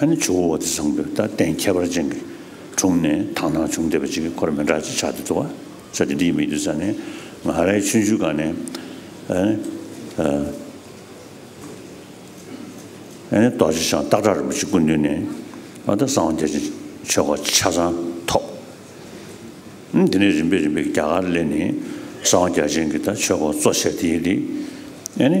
ཨ་ནི་ཇོ་བོ་བ་དི་བཟང་པོས་ད་གཏན་ཁྱད་པར་ཅན་གྱི་དྲུང་ནས་དག་སྣང་བྱུང་བདེ་བ་ཅིག་གི་འཁོར་མི་འདྲ་ཅིག་ཆགས་ཏེ་འདུག་ས་དེ་འདིའི་མིག་ཏུ་ས་ནི་ང་རའི་ཆུ་འཇུ་ག་ནས་ཨ་ནི་ཨ་ནི་རྡོ་རྗེ་ཤང་སྟག་བྲག་རིན་པོ་ཆེ་སྐུ་མདུན་ནས་ཨ་ད་གསང་བ་རྒྱ་ཆེན་ཆོས་སྒོ་ཆ་ཚང་ཐོབ། ཨ་དེ་ནས་རིམ་པས་རིམ་པས་རྒྱ་གར་ལས་ནི་གསང་བ་རྒྱ་ཆེན་གྱི་ད་ཆོས་སྒོ་གཙོ་བྱས་ཏེ་ཡིན་ཏེ་ཨ་ནི།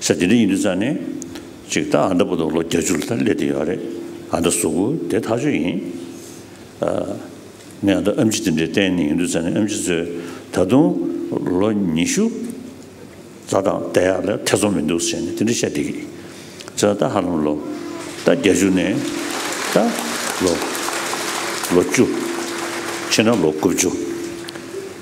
ས་དེ་འདྲ་ཡིན་དུས་ཙང་ནས། ཅིག་ད་ཨ་མདའ་བུ་དང་ལོ་བརྒྱ་ཅུ་ལ་ད་སླེབས་དེ་ཡོད་རེད། ཨ་མདའ་གཟུགས་པོ་དེ་ཐག་ཆོད་ཡིན། ཨ། ངས་ཨ་མདའ་ཨམ་ཆི་དེ་འདྲའི་གཏན་ནས་ཡིན་དུས་ཙང་ནས་ཨམ་ཆི་ཚོས་ད་དུང་ལོ་ཉི་ཤུ་རྩ་དང་བསྡད་ཡག་ལ་ཐེ་ཚོམ་མི་འདུག་ཟེར་ནས་དེ་འདྲ་བཤད་བསྡད་ཀྱི་ཡོད། ད་ད་ཧ་ལམ་ལོ་ད་བརྒྱ་ཅུ་ནས་ད་ལོ་ལོ་བཅུ་ཕྱིན་ན་ལོ་དགུ་བཅུ།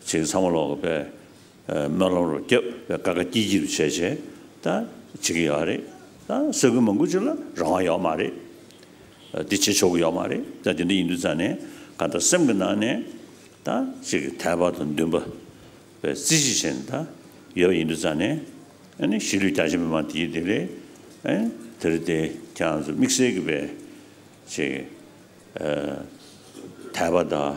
བྱིངས་ཚང་མ་ལོག་པའི་སྨོན་ལམ་རོ་བསྐྱབ་པའི་དཀའ་དཀའ་སྐྱིད་སྐྱིད་བྱས་བྱས་ད་བྱེད་ཀྱི་ཡོད་རེད་ད་ས་ཁུལ་མང་པོ་ཅིག་ལ་རང་དབང་ཡོད་མ་རེད་ད་འདི་བྱེད་ཆོག་གི་ཡོད་མ་རེད་ད་དེ་འདྲ་ཡིན་དུས་ཙང་ནས་ག་ད་སེམས་ཀྱི་ནང་ནས་ད་བྱེད་ཀྱི་ཐལ་བ་དང་འདུན་པ་བའི་རྩིས་གཞི་བྱས་ནས་ད་ཡོད་པ་ཡིན་དུས་ཙང་ནས་ཨཱ་ནི་གཞིས་ལུས་རྒྱ་ཆེ་མི་མང་དེའི་དེ་རེད་ཨཱ་དེ་རེད་དེ་ཁྱེད་རང་ཚོ་དམིགས་བསལ་གྱི་བའི་བྱེད་ཀྱི་ཐལ་བ་དང།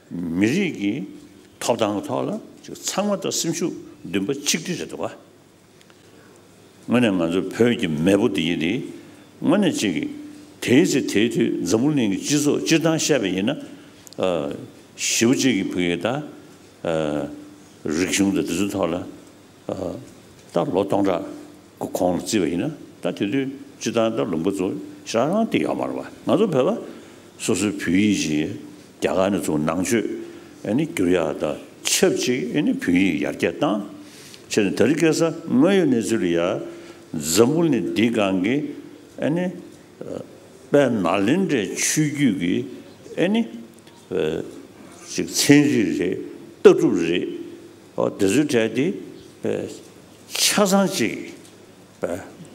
མི་རིགས་ཀྱི་ཐོབ་ཐང་གི་ཐོག་ལ་ཚང་མ་དང་སེམས་ཤུགས་འདུན་པ་ཆིག་སྒྲིལ་རེད་འདུག་བ། དངོས་ནས་ང་ཚོ་བོད་ཀྱི་མེས་པོ་འདི་ཡིན་དེ་དངོས་ནས་ཅིག་དེའི་ཚེ་དེའི་དུས་འཛམ་བུ་གླིང་གི་སྤྱི་ཚོགས་སྤྱིར་བཏང་བཤད་པ་ཡིན་ན། ཞི་བ་གཅིག་གི་བུ་ཡིན་ད། རིག་གཞུང་དང་དེ་ཚོའི་ཐོག་ལ། ད་ལོ་སྟོང་ཕྲག་གི་གོང་ལ་བརྩིས་པ་ཡིན་ན་ད་དེ་དུས་སྤྱི་བཏང་ད་ལུང་པ་ཚོ་རང་རང་སྟེ་ཡོག་མ་རེད་བ་ང་ཚོ་བོད་པ་སོ་སོའི་བོད་ཡིག་ཅིག་རྒྱ་གར་ནས་བཙུགས་ནང་ཆོས་ཨནི་བསྒྱུར་ཡག་ད་ཆབས་ཅིག་ཨནི་བོད་ཡིག་ཡར་རྒྱས་བཏང་ཕྱིར་ནས་ད་རི་སྐད་ས་དངོས་ཡོད་གནས་ཚུལ་ཡར་འཛམ་བུ་ནི་འདི་གང་གི་ཨནི་དཔལ་ནཱ་ལེནྡྲའི་ཆོས་བརྒྱུད་ཀྱི་ཨནི་ཅིག་ཚན་རིག་རེད་ལྟ་གྲུབ་རེད། འོ་དེ་ཚོའི་གྲས་དེ་ཆ་ཚང་གཅིག་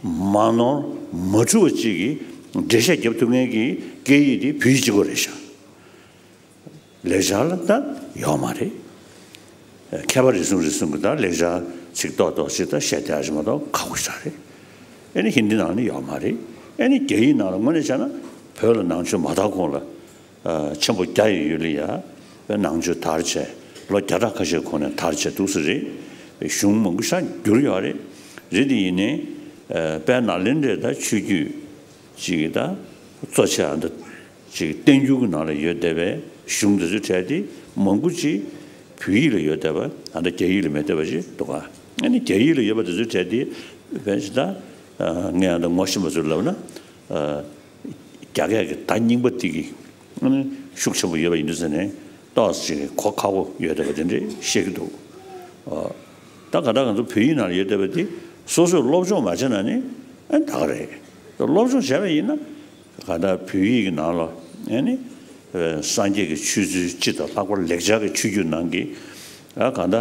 མ་ནོར་མ་འཁྲུལ་བ་གཅིག་གིས་འགྲེལ་བཤད་བརྒྱབ་ཐུབ་མཁན་གྱི་སྐད་ཡིག་དེ་བོད་ཡིག་གཅིག་པོ་རེད་ཤག་ལེགས་ཆ་ལ་ད་ཡོད་མ་རེད། མཁས་པ་རེ་ཟུང་རེ་ཟུང་གིས་ད་ལེགས་ཆ་ཚིག་ཏོག་ཏོག་ཅིག་ད་བཤད་བསྡད་ཨ་ཞེ་མ་ཏོག་ཁག་པོ་ཤག་རེད། ཨེ་ནི་ཧིན་དི་ནང་ནས་ཡོད་མ་རེད། ཨེ་ནི་རྒྱ་ཡིག་ནང་ལ་དངོས་གནས་བྱས་ན་བོད་ལ་ནང་ཆོས་མ་དར་གོང་ལ། ཆེན་པོ་རྒྱ་ཡི་ཡུལ་ལི་ཡ་བའི་ནང་ཆོས་དར་བྱས་ལོ་བརྒྱ་ཕྲག་ཁ་ཤས་གོང་ནས་དར་བྱས་འདུག་སི་རི་བའི་གཞུང་མང་པོ་ཤར་འགྱུར་ཡོད་རེད། རི་དེ་ཡིན་ནི་དཔལ་ནཱ་ལེནྡྲའི་ད་ཆོས་རྒྱུད་ཅིག་གི་ད་གཙོ་ཆེ་བ་འདི་ཅིག་བསྟན་འགྱུར་གྱི་ནང་ལ་ཡོད་བསྡད་པའི་གཞུང་དེ་ཚོའི་གྲས་དེ་མང་པོ་ཅིག་བོད་ཡིག་ལ་ཡོད་བསྡད་པ་ད་རྒྱ་ཡིག་ལ་མེད་བསྡད་པ་ཅིག་འདུག་ག་ཨེ་ནི་རྒྱ་ཡིག་ལ་ཡོད་པ་དེ་ཚོའི་གྲས་དེ་བས་ད་ངས་ད་ངོ་ཤེས་པ་ཚོར་ལབ་ན། རྒྱ་སྐད་ཀྱི་བརྡ་རྙིང་པ་ཏིག་གི་ཤུགས་ཆེན་པོ་ཡོད་པ་ཡིན་དུས་ཟེར་ནས་ཏོག་ཅིག་གི་གོ་ཁ་བོ་ཡོད་བསྡད་པ་དེ་འདྲས་བཤད་ཀྱི་འདུག་ད་ག་ད་ག་ཚོ་བོད་ཡིག་ནང་ལ་ཡོད་བསྡད་པ་དེ་སོ་སོས་སློབ་སྦྱོང་མ་བྱས་ན་ནི་ད་ག་རེད། སློབ་སྦྱོང་བྱས་པ་ཡིན་ན་ག་ད་བོད་ཡིག་གི་ནང་ལ་ནི་སངས་རྒྱས་ཀྱི་ཆོས་ཚུལ་སྤྱི་དང་ལྷག་པར་ལེགས་སྦྱར་གྱི་ཆོས་བརྒྱུད་ནང་གི་ག་ད་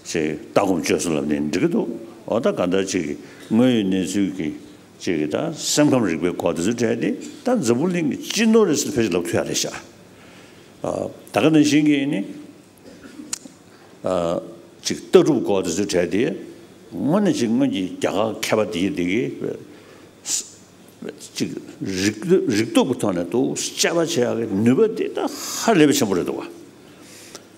ཅིག་ལྟ་སྒོམ་སྤྱོད་བཟོ་ལབ་ནས་འབྲི་གི་འདུག་འོ་ད་ག་ད་ཅིག་དངོས་ཡོད་གནས་ཚུལ་གྱི་ཅེས་ཀྱི་དང་སེམས་ཁམས་རིག་པའི་སྐོར་དེ་ཚོ་བྲལ་ཏེ་ད་འཛམ་བུ་གླིང་གི་སྤྱི་ནོར་རེད་ཟེར་ཕལ་ཆེར་ལབ་ཁྱོད་ཡག་རེད་ཤག་ད་ག་ནང་བཞིན་གྱི་ནི་ཅིག་ལྟ་གྲུབ་སྐོར་དེ་ཚོ་བྲལ་ཏེ་དངོས་ནས་ཅིག་སྔོན་གྱི་རྒྱ་གར་མཁས་པ་དེ་གི་དེ་གི་ཅིག་རིག་རིག་སྟོབས་ཀྱི་ཐོག་ནས་དུ་དཔྱད་པ་བྱེད་ཡག་གི་ནུས་པ་དེ་ད་ཧ་ལས་པའི་ཆེན་པོ་རེད་འདུག་བ།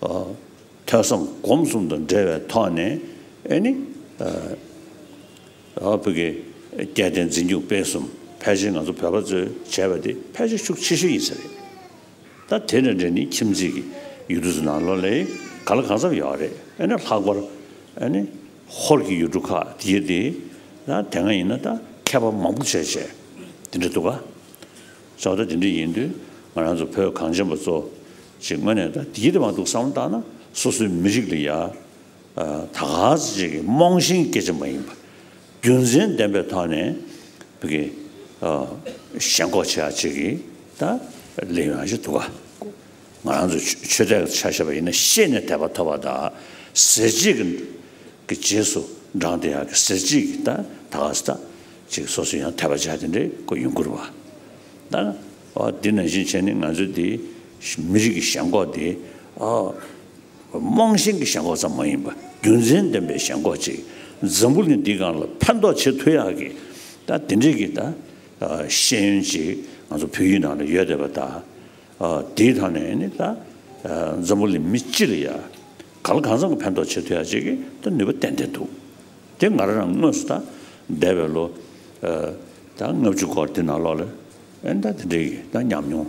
ཐོས་བསམ་སྒོམ་གསུམ་དང་འབྲེལ་བའི་ཐོག་ནས་ནི། བོད་ཀྱི་སྐྱེ་ལྡན་འཛིན་སྐྱོང་སྤེལ་གསུམ་ཕལ་ཆེར་ང་ཚོ་བོད་པ་ཚོས་བྱས་པ་དེ་ཕལ་ཆེར་ཤུགས་ཆེ་ཤོས་ཡིན་ས་རེད། ད་དེ་དང་འབྲེལ་ནི་ཁྱིམ་མཚེས་ཀྱི་ཡུལ་གྲུ་ཚོ་ནང་ལོགས་ལས་ག་ལ་གང་འཚམས་ཡོད་རེད་ཨེ་ན་ལྷག་པར་ནི་ཧོར་གྱི་ཡུལ་གྲུ་ཁག་དེ་དེ་ན་དེ་སྔ་ཡིན་ན་ད་མཁས་པ་མང་པོ་བྱས་བྱས་དེ་འདྲ་འདུག་ག། ས་བོད་ད་དེ་འདྲ་ཡིན་དུས་ང་རང་ཚོ་བོད་གངས་ཅན་པ་ཚོ་ཞེས་དངོས་གནས་ད་དེའི་དོན་མ་འདུག་བསམ་བློ་བཏང་ན་སོ་སོའི་མི་རིགས་ལ་ཡ་ད་ག་ཚོད་ཅིག་གིས་རྨོངས་ཤིང་སྐད་ཆ་མ་ཡིན་པ་རྒྱུ་མཚན་ལྡན་པའི་ཐོག་ནས་གི་ཞེན་ཁོག་ཆེ་བ་ཅིག་གིས་ད་ལས་ཡོང་ཞིག་འདུག་ང་རང་ཚོ་ཆོས་དད་ཆ་ཤས་པ་ཡིན་ན་ཤེས་ནས་དད་པ་ཐོབ་པ་ད་ཟེར་གཅིག་གི་གི་རྗེས་སུ་འབྲང་དེ་ཡག་གི་ཟེར་གཅིག་གིས་ད་ད་ག་ཚོད་ཅིག་གིས་སོ་སོའི་ཡང་དད་པ་བྱ་དེ་འདྲའི་ཡོང་ཁུར་བ་ད། འདི་ནང་བཞིན་བྱས་ནས་ང་ཚོའི་འདི་མི་རིགས་ཀྱི་ཞེན་ཁོག་འདི་རྨོངས་ཞེན་གྱི་ཞེན་ཁོག་ཙམ་མ་ཡིན་པ་རྒྱུ་མཚན་ལྡན་པའི་ཞེན་ཁོག་ཅིག་འཛམ་བུ་གླིང་འདི་གང་ལ་ཕན་ཐོགས་བྱེད་ཐུབ་ཡག་གི་ད་འདི་འདྲིས་ཀྱི་ད་ཤེས་ཡོན་ཅིག་ང་ཚོ་བོད་ཡིག་ནང་ལ་ཡོད་བསྡད་པ་ད་འདིའི་ཐང་ནས་ནི་ད་འཛམ་བུ་གླིང་མི་སྤྱི་ལ་ཡག་ག་ལ་གང་ཙམ་གྱི་ཕན་ཐོགས་བྱེད་ཐུབ་ཡག་ཅིག་གི་ད་ནུས་པ་ཏན་ཏན་འདུག་དེ་ང་རང་དངོས་སུ་ད་འདས་པའི་ལོ་ད་ལྔ་བཅུ་སྐོར་འདི་ནང་ལོགས་ལ། ཨེ་ད་དེ་འདྲའི་ད་ཉམས་མྱོང་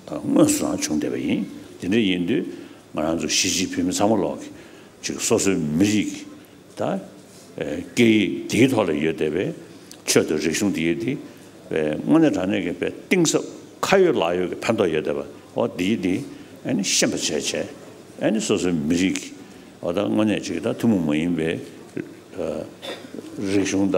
དངོས་སུ་ཡང་བྱུང་བསྡད་པ་ཡིན། དེ་འདྲ་ཡིན་དུས་ང་རང་ཚོ་ཞི་ཅིན་ཕིན་མི་ཚང་མ་ལོག་ཅིག་སོ་སོའི་མི་རིགས་ཀྱི་ད་སྐད་ཡིག་དེའི་ཐོག་ལ་ཡོད་བསྡད་པའི་ཆོས་དང་རིག་གཞུང་དེ་ཡིག་དེ་དངོས་གནས་དྲང་གནས་ཀྱི་དཔེ་གཏིང་ཟབ་ཁ་ཡོད་ལག་ཡོད་ཀྱི་ཕན་ཐོག་ཡོད་བསྡད་པ་འོ་དེ་ཡིག་དེ་ཤེས་པ་བྱས་བྱས་ཨེ་སོ་སོའི་མི་རིགས་ཀྱི་ད་དངོས་གནས་ཅིག་ད་ཐུན་མོང་མ་ཡིན་པའི་རིག་གཞུང་ད་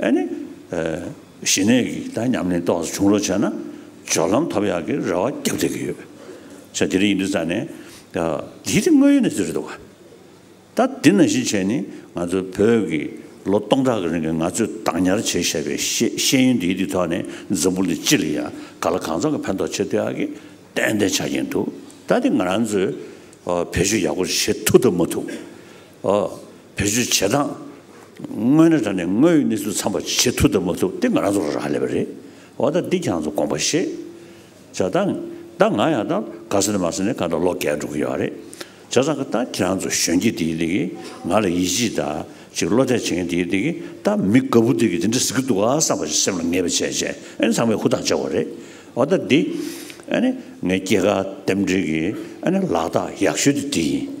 ཨ་ནི། ཞི་གནས་ཀྱི་དག་མཉམ་ལེན་རྟོགས་སུ་བྱུང་རོགས་བྱས་ན། སྦྱོར་ལམ་ཐོབ་ཡག་གི་རེ་བ་རྒྱ་བསྡད་ཀྱི་ཡོད། ཆ་དེ་རིང་ཡིན་དུས་རྩ་ནས། འདི་དེ་དངོས་ཡོད་གནས་ཚུལ་རེད་འདུག་ག། ད་འདི་ནང་བཞིན་བྱས་ནི་ང་ཚོའི་བོད་ཀྱི་ལོ་སྟོང་ཕྲག་གི་རིང་གི་ང་ཚོས་བདག་ཉར་བྱས་བཞག་པའི་ཤེས་ཡོན་འདིའི་དུས་ཐོག་ནས་འཛམ་བུ་འདི་སྤྱི་ལ་ཡང་ག་ལ་གང་འཚམ་གྱི་ཕན་ཐོགས་ཆེ་ཐུབ་ཡག་གི་ཏན་ཏན་ཆགས་ཀྱིན་འདུག་ད་དེ་ང་རང་ཚོས་བེད་སྤྱོད་ཡག་པོ་བྱེད་ཐུབ་ཐུབ་མ་ཐུབ། བེད་སྤྱོད་བྱེད་སྟངས་དངོས་ནས་དྲ་ནས་དངོས་ཡོད་གནས་ཚུལ་ཚང་པར་བྱེད་ཐུབ་དང་མ་ཐུབ་དེ་ང་རང་ཚོར་རག་ལས་པ་རེད། འོ་ད་འདི་ཁྱེད་རང་ཚོ་དགོངས་པ་ཤེས། བྱ་ད་ད་ང་ཡང་ད་ག་སེ་ན་མ་སེ་ན་ག་ད་ལོ་བརྒལ་འགྲོ་གི་ཡོད་རེད། བྱ་ད་ག་ད་ཁྱེད་རང་ཚོ་གཞོན་སྐྱེས་དེ་འདི་གི་ང་ལ་ཡིད་ཆེས་ད་ཅིག་བློ་གཏད་བྱེད་མཁན་དེ་འདི་གི་ད་མི་དགའ་བོ་འདི་གི་དེ་འདྲ་ཟེར་གི་འདུག་ག་བསམ་པ་ཞིག་སེམས་ལ་ངེས་པ་བྱས་བྱས་ཨ་ནི་ཚང་མས་ཧུར་ཐག་བྱེད་དགོས་རེད། འོ་ད་འདི་ཨ་ནི་ངའི་སྐྱེས་སྐར་རྟེན་འབྲེལ་གྱི་ཨ་ནི་ལག་རྟགས་ཡག་ཤོས་དེ་འདི་ཡིན།